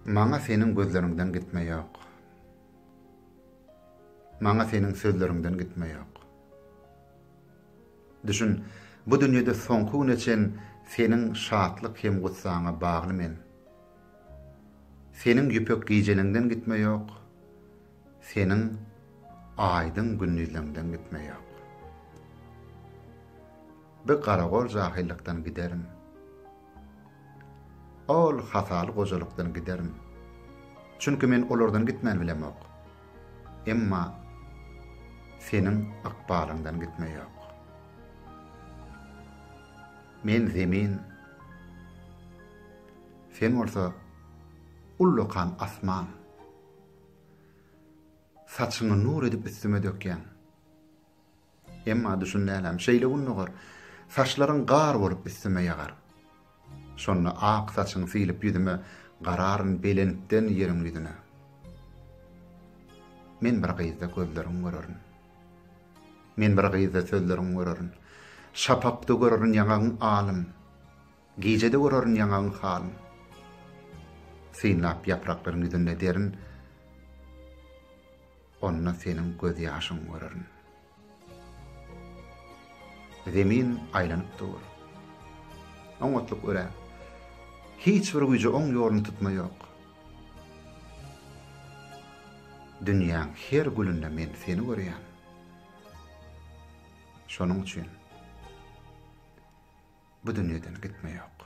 Maňa seniň gözleriňden gitme ýok. Maňa seniň sözleriňden gitme ýok. Düşün, bu dünýede soňky güne çen seniň şatlyk hem gussaňa bagly men. Seniň ýüpek gijeliňden gitme ýok. Seniň aýdyň gündizleňden gitme ýok. Bi garagol jahyllykdan giderin. Ol hataly gojalykdan giderin. Çünki men olardan gitmän bilemok. Emma seniň ykbalyňdan gitme ýok. Men zemin. Sen bolsa ullakan asman. Saçyňy nur edip üstüme dökýäň. Emma düşün läläm, şeýle gün dogar, Saçlaryň gar bolup üstüme ýagar. Şonda ak saçyň siýlip ýüzüme, Gararyn belentden ýeriň ýüzüne. Men bir gyzda gözleriň görerin. Men bir gyzda sözleriň görerin. Şapakda görerin ýaňagyň alym. Gije-de görerin ýaňagyň halyn. Synlap ýapraklaryň ýüzünde derin, Onda seniň gözýaşyňy görerin. Zemin aýlanyp dur. Oňatlyk örä. Hiç bir güýje oň ýoluny tutma ýok. Dünýäň her gülünde men seni görýän. Şonuň üçin bu dünýeden gitme ýok.